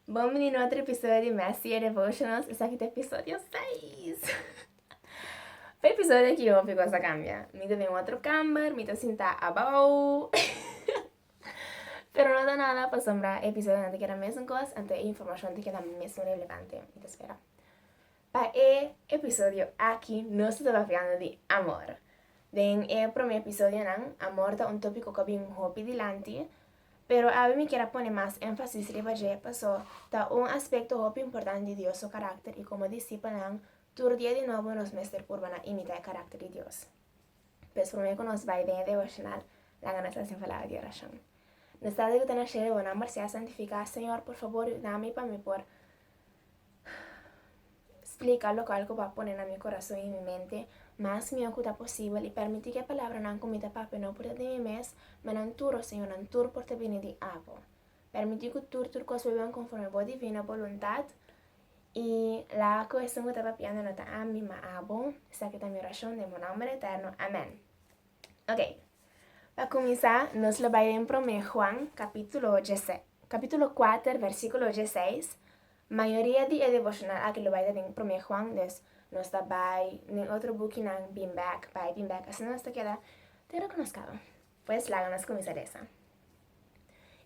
Bombini na otro episodio di Master Your Devotionals. Esaki ta episodio 6. Pa episodio ki hopi cosa cambia. Mi ta den otro camber, mi ta sinta abao. Pero no ta nada, pasobra episodio ta keda mesun cos, anto e informacion ta keda mesun relevante. Mi ta spera. Pa e episodio aki nos ta tabafiando di amor. Den e prome episodionan, amor ta un tópiko ku a bin hopi dilanti, pero awe mi kier a pone mas énfasis riba dje pasó ta un aspekto hopi importante di Dios su karakter i komo disipelnan tur dia di nobo nos mester purba na imitá e karakter di Dios. Pues promé ku nos bai den e devoshonal, laga nos hasi un palabra di orashon. Nos Tate ku ta na shelu, bo nomber sea santifiká. Señor, por fabor yudami pa mi por Splika lokual ku bo a pone na mi korason i mi mente mas mihó ku ta posibel i permití ku e palabranan ku mi ta papia no por ta den mi mes, ma nan tur, o Señor, nan tur por ta bini di abo. Permití ku tur tur kos por ben konforme bo divino boluntat i la ku esun ku ta papiando no ta ami, ma abo. Esaki ta mi orashon den bo nòmber eterno. Amèn. Oke, pa kuminsá nos lo bai den Promé Juan, kapítulo djese, kapítulo kuater, vèrsikulo djeseis. Mayoria di e devocional aki lo bai ta den Promé Juan, dus nos ta bai den otro bukinan bin bèk, bai bin bèk, asina nos ta keda tur loke nos kaba. Pues laga nos kuminsá lesa.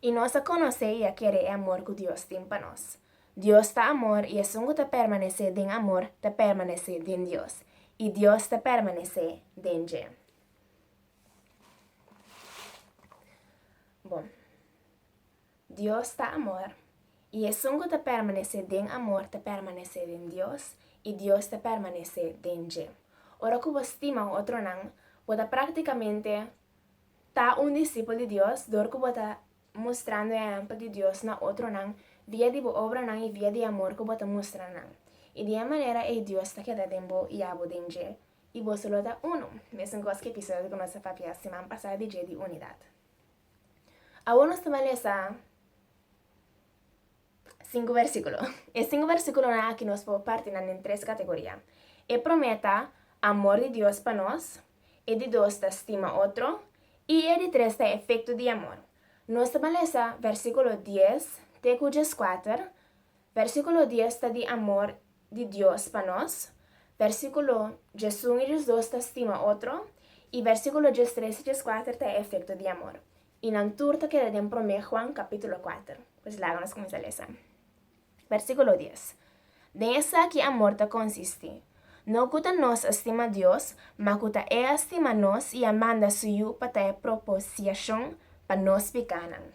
I nos a konosé i a kere e amor ku Dios tin pa nos. Dios ta amor i esun ku ta permanesé den amor ta permanesé den Dios, i Dios ta permanesé den dje. Bon. Dios ta amor, i esun ku ta permanesé den amor ta permanesé den Dios, i Dios ta permanesé den dje. Ora ku bo stima otronan, bo ta praktikamente ta un disipel di Dios dor ku bo ta mustrando e ehèmpel di Dios na otronan via di bo obranan i via di e amor ku bo ta mustra na nan. I di e manera ei Dios ta keda den bo i abo den dje, i boso lo ta unu, mesun kos ku e episodio ku nos a papia siman pasá di dje di unidat. Awor nos ta malesa sinku versíkulo. E sinku versíkulonan akí nos por parti nan den tres kategoria. E promé ta amor di Dios pa nos, e di dos ta stima otro i e di tres ta efekto di amor. Nos ta malesa versíkulo dies te ku djeskuater, versíkulo dies ta di amor di Dios pa nos, bèrsikulo djes un i djes dos ta stima otro, i bèrsikulo djes tres i djes kuater ta e efekto di amor, i nan tur ta keda den Promé Juan kapítulo kuater. Pues laga nos kuminsá lesa. Bèrsikulo dies, Den esaki amor ta konsistí, no ku ta nos a stima Dios, ma ku ta E a stima nos i a manda Su Yu pa ta e propisiashon pa nos pikánan.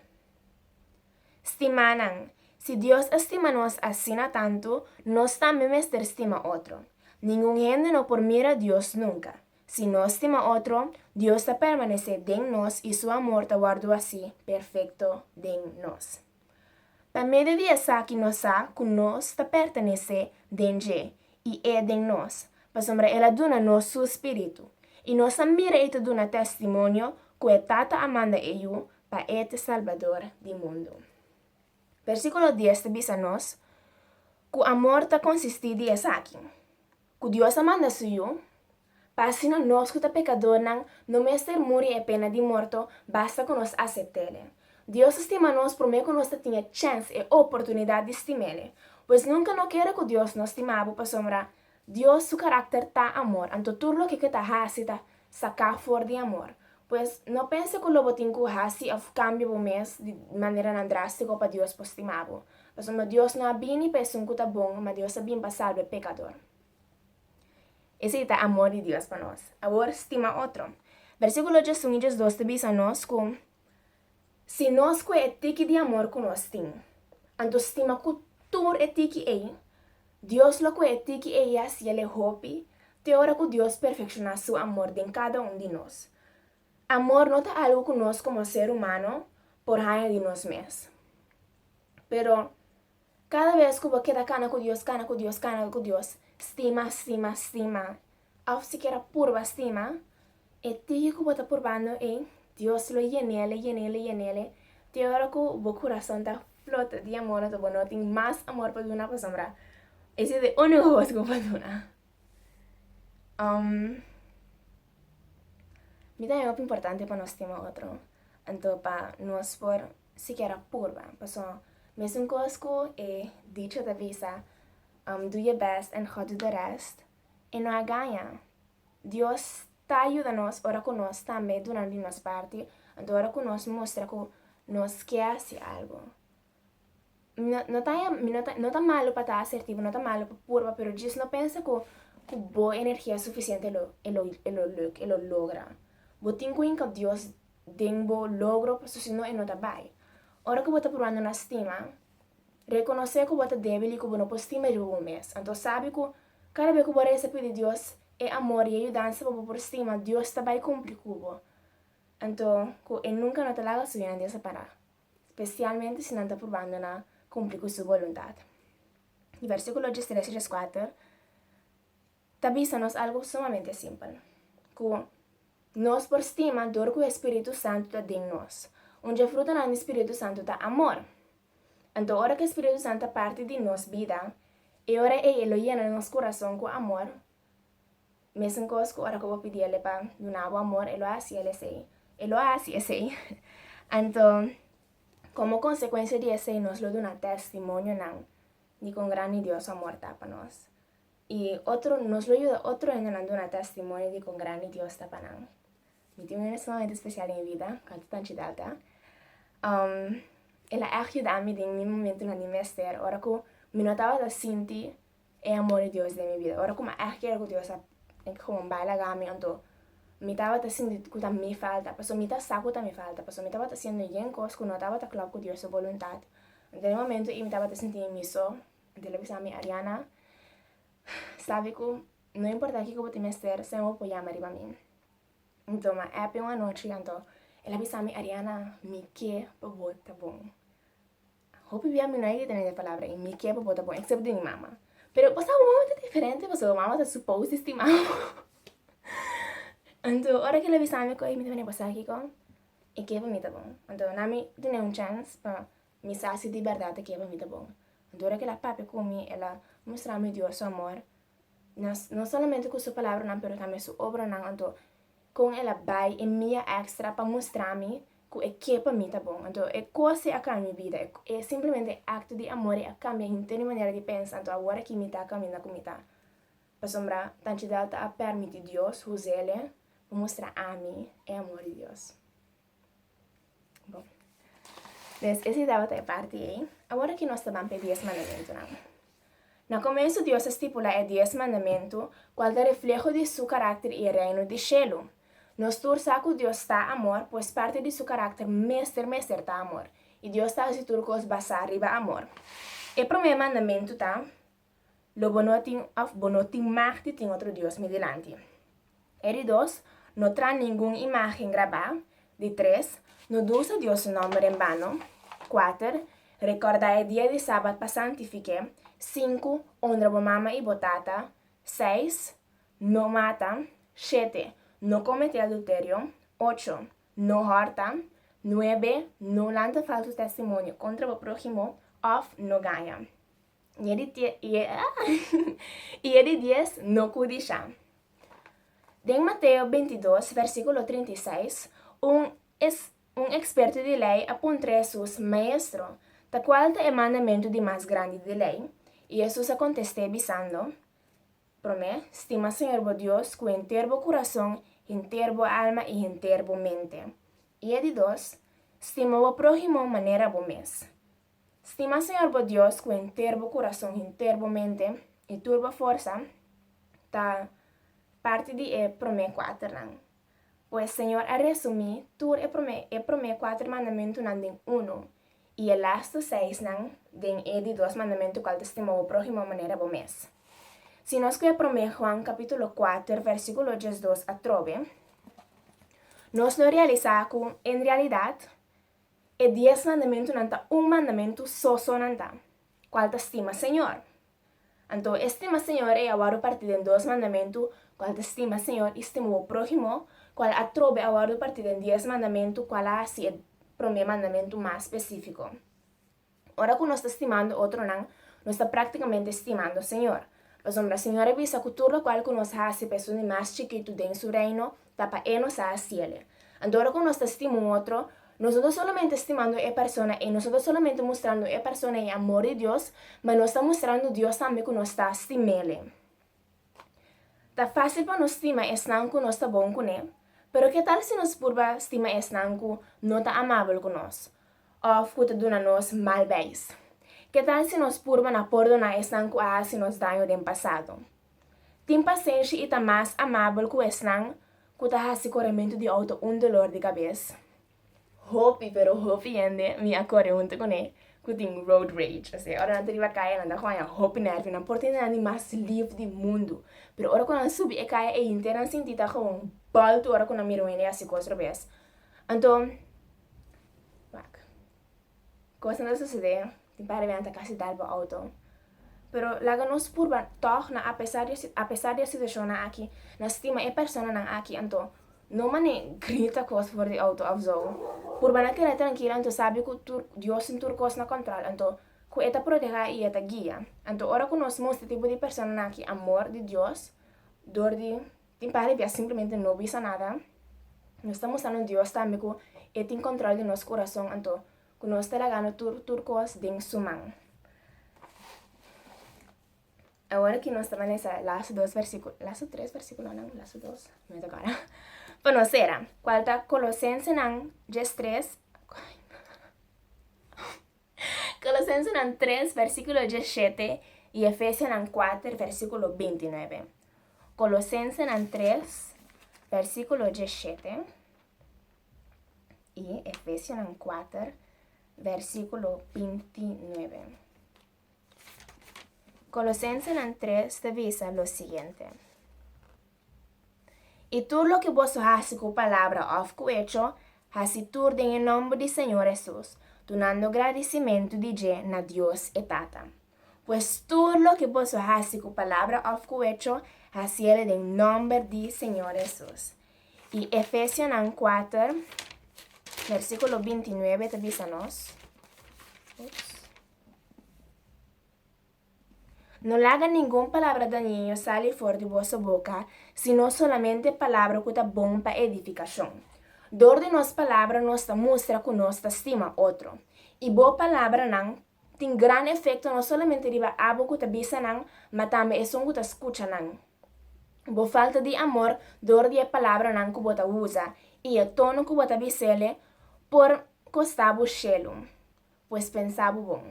Stimanan, si Dios a stima nos asina tantu, nos tambe mester stima otro. Ningun hende no por mira Dios nunca. Si nos stima otro, Dios ta permanece den nos y su amor ta wordo haci perfecto den nos. Pa medio di esaki nos sa cu nos ta pertenece den Dje y E den nos, pasobra El a duna nos su Spiritu. Y nos a mira y ta duna testimonio cu e Tata a manda E yu pa E ta Salbador di mundu. Versíkulo dies ta bisa nos ku amor ta konsistí di esaki, ku Dios a manda Su Yu, pa asina nos ku ta pekadónan no mester muri e pena di morto, basta ku nos asept'Ele. Dios a stima nos promé ku nos ta tin e chèns, e oportunidat di stim'Ele. Pues nunka no kere ku Dios no stima bo pasobra Dios su karakter ta amor, anto tur loke ke ta hasi ta saká for di amor. Pues, no pensa ku lo bo tin ku hasi òf kambia bo mes di maneranan drástiko pa Dios por stima bo. Pasobra Dios no a bini pa esun ku ta bon, ma Dios a bin pa salba e pekador. Esei ta amor di Dios pa nos. Awor, stima otro. Bersíkulo djesun i djesdos ta bisa nos ku Si nos kue e tiki di amor ku nos tin, anto stima ku tur e tiki ei, Dios lo kue e tiki ei i a hasiel e hopi, te ora ku Dios perfekshoná su amor den kada un di nos. Amor no ta algu ku nos komo ser humano por haña di nos mes. Pero, kada bes ku bo keda kana ku Dios, kana ku Dios, kana ku Dios, stima, stima, stima, Òf sikier a purba stima e tiki ku bo ta purbando ei, Dios lo yen'ele, yen'ele, yen'ele, te ora ku bo kurason ta flota di amor anto bo no tin mas amor pa duna pasobra es es e único kos ku bo por duna. Um, mi ta hopi importante pa nos stima otro, anto pa nos por sikier a purba, paso mesun kos ku e dicho ta bisa, um, do your best and God do the rest. E no a gaña. Dios ta a yuda nos ora ku nos tambe duna di nos parti, anto ora ku nos mustra ku nos ke hasi algu. Mi no no ta haña mi no ta no ta malu pa ta asertivo, no ta malu pa purba, pero djis no pensa ku ku bo energia sufisiente lo e lo e lo luk e lo logra. Bo tin ku hinka Dios den bo logro pasobra si no e no ta bai. Ora ku bo ta pruwando na stima, Rekonosé ku bo ta débil i ku bo no por stima riba bo mes. Anto sabi ku kada bia ku bo resa pidi Dios e amor i e yudansa pa bo por stima, Dios ta bai kumpli ku bo. Anto ku e nunka no ta laga su hende separá, spesialmente si nan ta purbando na kumpli ku su boluntat. Di versíkulo tres tres kuater. ta bisa nos algu sumamente simpel, ku nos por stima dor ku e Spiritu Santu ta den nos. Un dje frutanan di Spiritu Santu ta amor. Anto ora ku e Spiritu Santu ta parti di nos bida, e ora ei e lo yena nos kurason ku amor, mesun kos ku ora ku bo pidi el e pa duna bo amor, e lo hasi el esei, e lo hasi esei. Anto, komo konsekuensia di esei nos lo duna tèstimonionan di kon grandi Dios su amor ta pa nos. I otro, nos lo yuda otro hendenan duna tèstimonio di kon grandi Dios ta pa nan. Mi tin un hende sumamente spesial den mi bida, ku a ta Tanchi Delta. El a ègt yuda mi den mi momentunan di mester, ora ku mi no tabata sinti e amor di Dios den mi bida. Ora ku mi a ègt kere ku Dios a tenke ku wòmbai laga mi, anto mi tabata sinti ku ta mi falta. Pasobra mi ta sa ku ta mi falta, pasobra mi tabata hasiendo yen kos ku no tabata klòp ku Dios su boluntat. Den e momentu ei mi tabata sinti mi so. Anto el a bisa mi, Ariana, sabi ku no importá kiko bo tin mester, siempre bo por yama riba mi. Mi toma app un anochi, anto el a bisa mi, Ariana, mi ke pa bo ta bon. Hopi bia mi no a yega tene e palabra ei, mi ke pa bo ta bon, excepto di mi mama. Pero pasá bo mama ta diferente pasobra bo mama ta supposed di stima bo. Anto ora ku el a bisa mi ku ei, mi ta mira, bo sabi kiko? E ke pa mi ta bon. Anto nan mi tene un chance pa Mi sa si di bèrdat e keba mi ta bon. Anto ora ke el a papia ku mi, el a mustra mi Dios su amor, no, no solamente ku su palabranan, pero tambe su obranan. Anto kon el a bai e mia èkstra pa mustra mi ku e ke pa mi ta bon. Anto e kos'e a kambia mi bida. E simplemente e akto di amore a kambia henter mi manera di pensa. Anto awor aki mi ta kaminda ku mi ta pasobra Tanchidel ta a pèrmití Dios usa el pa mustra ami e amor di Dios. Bon. Des ese tabata e parti ei. Awor aki nos ta ban pe dies mandamentunan. Na comensu Dios a stipula e dies mandamentu cual ta refleho di su caracter y e reino di shelu. Nos tur sa cu Dios ta amor, pues parti di su caracter mester mester ta amor. Y Dios ta haci tur cos basa riba amor. E prome mandamentu ta. Lo bo no tin òf bo no tin mag di tin otro dios mi dilanti. E di dos, No traha ningun imágen grabá. Di tres, No dusa Dios su nòmber en bano. Kuater, Rekòrda e dia di Sabat pa santifiké. Sinku, Onra bo mama i bo tata. Seis, No mata. Shete, No kometé adulterio. Ocho, No hòrta. Nuebe, No lanta falsu testimonio kontra bo próhimo òf no gaña. y e di tie, y e, y e di dies no cu disha. Den Mateo 22, versículo 36, un, es, un experto di ley a puntra Jesus, Maestro, ta cual ta e mandamentu di mas grandi di ley? Y Jesus a contesté bisando, Prome, stima Señor bo Dios cu henter bo curason, henter bo alma y henter bo mente. Y e di dos, Stima bo próhimo manera bo mes. Stima Señor bo Dios cu henter bo curason, henter bo mente y tur bo forsa, ta parti di e prome cuaternan. Pues Señor a resumi tur e prome e prome cuater mandamentunan den uno, y e laster seisnan den e di dos mandamentu cual ta Stima bo prohimo manera bo mes. Si nos cu e prome Juan capitulo cuater versiculo diesdos atrobe, nos lo realisa cu en realidad, E dies mandamentunan ta un mandamentu soso nan ta, kual ta stima Señor. Anto e stima Señor ei a wòrdu partí den dos mandamentu, kual ta stima Señor i stima bo próhimo, kual atrobe a wòrdu partí den dies mandamentu, kual a hasi e promé mandamentu mas spesífiko. Ora ku nos ta stimando otronan, nos ta práktikamente stimando Señor. Pasobra Nan Señor a bisa ku tur lokual ku nos hasi pa esun di mas chikitu den Su Reino, ta pa E nos a hasiele. Anto ora ku nos ta stima un otro, nos no ta solamente stimando e persona ei, nos no ta solamente mustrando e persona ei amor di Dios, ma nos ta mustrando Dios tambe ku nos ta stim'Ele. Ta fásil pa nos stima esnan ku nos ta bon kuné, pero ke tal si nos purba stima esnan ku no ta amabel ku nos òf ku ta duna nos mal beis? Ke tal si nos purba na pordoná esnan ku a hasi nos daño den pasado? Tin pasenshi i ta mas amabel ku esnan ku ta hasi korementu di outo un dolor di kabes. Hopi, pero hopi hende mi a kore huntu kuné ku tin road rage. P'esei ora nan ta riba kaya nan ta hoña hopi nèrvi, nan por tende nan di mas lif di mundu. Pero ora ku nan subi e kaya ei henter nan sinti ta komo un baltu ora ku nan mira un hende hasi kos robes. Anto, wak, kos nan ta susedé. Tin pare mea ta kasi dal bo auto. Pero laga nos purba tog na apesar apesar di e situashonnan aki na stima e personanan aki anto no mane grita kos for di auto of zo. Purba na keda trankil anto sabi ku tur Dios tin tur kos na kòntròl anto ku e ta protehá i e ta guia. Anto ora ku nos mustra e tipo di personanan aki amor di Dios dor di tin pare bia simplemente no bisa nada nos ta mustra nos Dios tambe ku e tin kòntròl di nos kurason anto. Ku nos ta lagando tur, tur kos den Su man. Awor ki nos ta balesa lasu dos versíkulo, lasu tres versíkulonan, lasu dos, no me takorda, pa nos sera, kual ta Kolosensenan djes tres, Kolosensenan tres versíkulo djes shete i Efesianan kuater versíkulo binti nuebe. Kolosensenan tres versíkulo djes shete. i Efesionan kuater, versíkulo binti nuebe. Kolosensenan tres ta bisa lo siguiente, I tur loke boso hasi ku palabra òf ku echo, hasi tur den e nòmber di Señor Hesus, dunando gradisimentu di dje na Dios e Tata. Pues tur loke boso hasi ku palabra òf ku echo, hasiel den nòmber di Señor Hesus. I Efesianan kuater, versíkulo binti nuebe ta bisa nos, Ups. No laga ningun palabra dañino sali for di boso boka, sino solamente palabra ku ta bon pa edifikashon. Dor di nos palabra nos ta mustra ku nos ta stima otro, i bo palabranan tin grandi efekto no solamente riba abo ku ta bisa nan, ma tambe esun ku ta skucha nan. Bo falta di amor dor di e palabranan ku bo ta usa i e tono ku bo ta bisa el'e por kosta bo shelu. Pues pensa bo bon.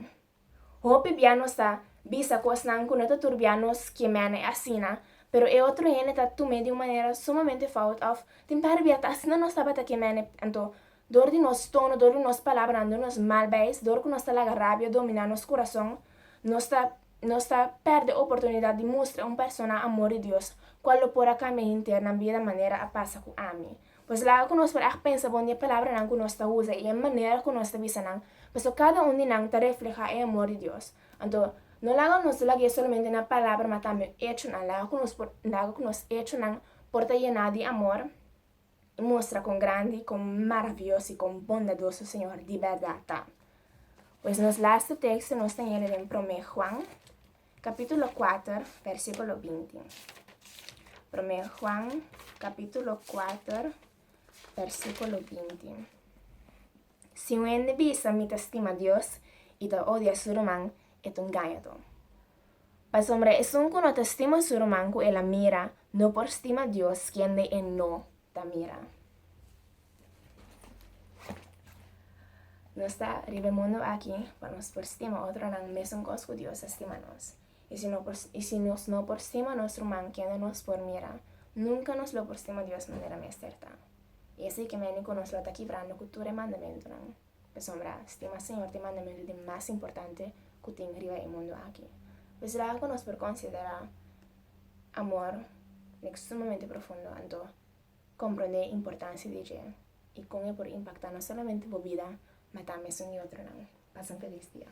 Hopi bia nos ta bisa kosnan ku no ta tur bia nos kiem'e asina, pero e otro hende ta tum'e di un manera sumamente fout òf tin par'e bia ta asina nos tabata kiem'e anto Dor di nos tono, dor di nos palabranan, dor di nos mal beis, dor ku nos ta laga rabia dominá nos kurason, nos ta nos ta pèrdè oportunidat di mustra un persona amor di Dios, kual lo por a kambia henter nan bida manera a pasa ku ami. Pues laga ku nos por a pensa bon di e palabranan ku nos ta usa i e manera ku nos ta bisa nan, pasobra kada un di nan ta reflehá e amor di Dios. Anto, no laga nos lagu'é solamente na palabra, ma tambe echonan. Laga ku nos por laga ku nos echonan por ta yená di amor. mustra kon grandi, kon maravioso i kon bondadoso Señor di bèrdat ta. Pues nos laste teksto nos ta yende den Promé Juan, kapítulo kuater, bèrsikulo binti. Promé Juan, kapítulo kuater, bèrsikulo binti. Si un hende bisa, Mi ta stima Dios, i ta odia su ruman, e ta un gañadó. Pasobra esun ku no ta stima su ruman ku el a mira, no por stima Dios, kende e no ta mira. Nos ta riba e mundu aki pa nos por stima otronan mesunkos ku Dios a stima nos. I si no por i si nos no por stima nos ruman, kende nos por mira? Nunka nos lo por stima Dios manera mester ta. I esei ke meni ku nos lo ta kibrando ku tur e mandamentunan. Pasobra stima Señor t'e mandamentu di mas importante ku tin riba e mundu aki. Pues será ku nos por konsiderá amor like sumamente profundo, anto komprondé e importansia di dje i kon e por impaktá no solamente bo bida ma tambe esun di otronan. Pasa un felis dia.